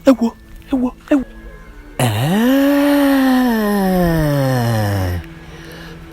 ewo ewo ewo Ee,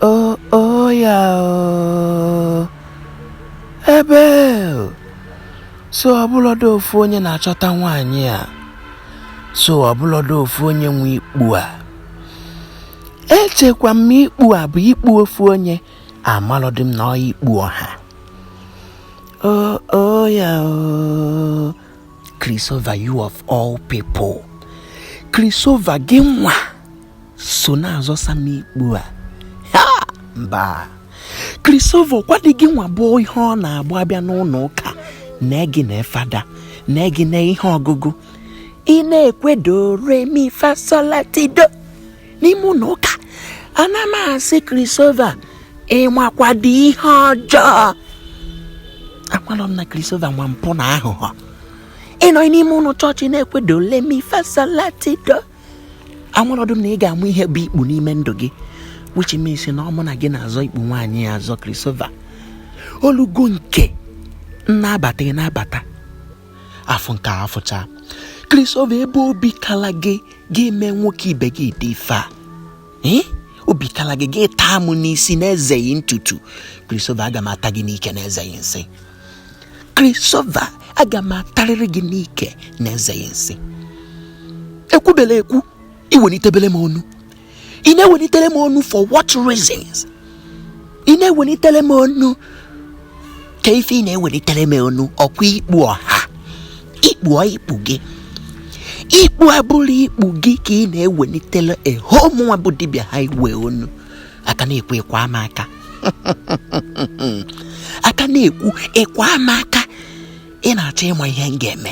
o o ya o ebe o. so ọ bụlọdụ ofu onye na-achọta nwaanyị a so ọ bụlọdụ ofu onye nwe ikpu a echekwa m ikpu a bụ ikpu ofu onye amalọdị m na ọ ikpu ọha oh oh ya oh Christopher you of all people Christopher gị nwa so na-azọsa m ikpu a ha mba Christopher kwadị gị nwa bụ ihe ọ na-agba abịa n'ụnọ ụka na gị na fada na gị na ihe ọgụgụ ị na-ekwe do re mi fa so la ti do n'ime ụnọ ụka ana m asị Christopher ị makwado ihe ọjọọ amalọ m na Christopher ma mpụ na aghụghọ ị nọ n'ime ụnọ chọọchị na-ekwe do le mi fa so la ti do amalọdụ m na ị ga-ama ihe bụ ikpu n'ime ndụ gị which means na ọ mụ na gị na-azọ ikpu nwaanyị a azọ Christopher o lugo nke m na-abata ị na-abata afụ nke afụcha Christopher ebe obi kala gị ga-eme nwoke ibe gị ụdị ife a ee obi kala gị gị taa m n'isi na-ezeghị ntutu Christopher aga m ata gị n'ike na-ezeghị nsị Christopher aga m atarịrị gị n'ike na-ezeghị nsị ekwubele ekwu i wenitebele m onu ị na-ewenitele m onu for what reasons ị na-ewenitele m onu ka ife ị na-ewenitele m onu ọkwa ikpu ọha ikpu ọ ikpu gị ikpu abụlụ ikpu gị ka ị na-ewenitele ehomụnwa bụ dibịa ha iwe onu a ka na-ekwu ị kwaa mụ aka a ka na-ekwu ị kwaa mụ aka ị na-achọ ịma ihe m ga-eme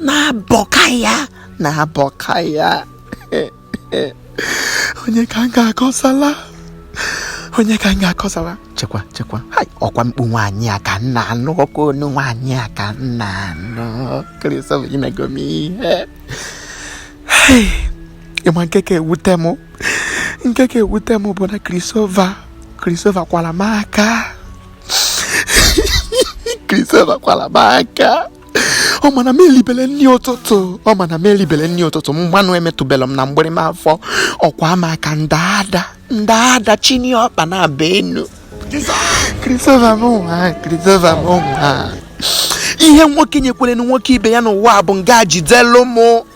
na-abọka ya na-abọka ya onye ka m ga-akọsala onye ka m ga-akọsala chekwa chekwa hai ọkwa mkpu nwaanyị a ka m na-anụ ọkwa onu nwaanyị a ka m na-anụ Christopher i mego m ihe Hai, ị ma nke ka ewute m nke ka ewute m bụ na Christopher Christopher kwala m aka Christopher kwala m aka ọ ma na m elibele nni ụtụtụ ọ ma na m elibele nni ụtụtụ mmanụ emetụbelụ m na mgbịrịm afọ ọ kwaa m aka m daa ada m daa ada chini ọkpa naabọ enu Christopher m nwa Christopher m nwa ihe nwoke nyekwere na nwoke ibe ya n'ụwa bụ nga jidelu mụ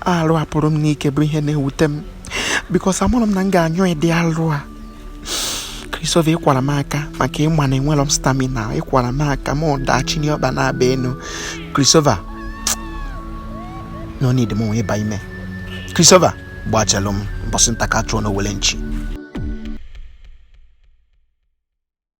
alụ a pụrụ m n'ike bụ ihe na-ewute m because amụrụ m na m ga-anyụ ụdị alụ a Christopher ị kwara m aka maka ị ma na enwerọ m stamina ị kwara m aka m daa chinie ọkpa naabọ enu Christopher no need m nwe ịba ime Christopher gbachalụ m mbọsị nta ka chụọ n'owele nchi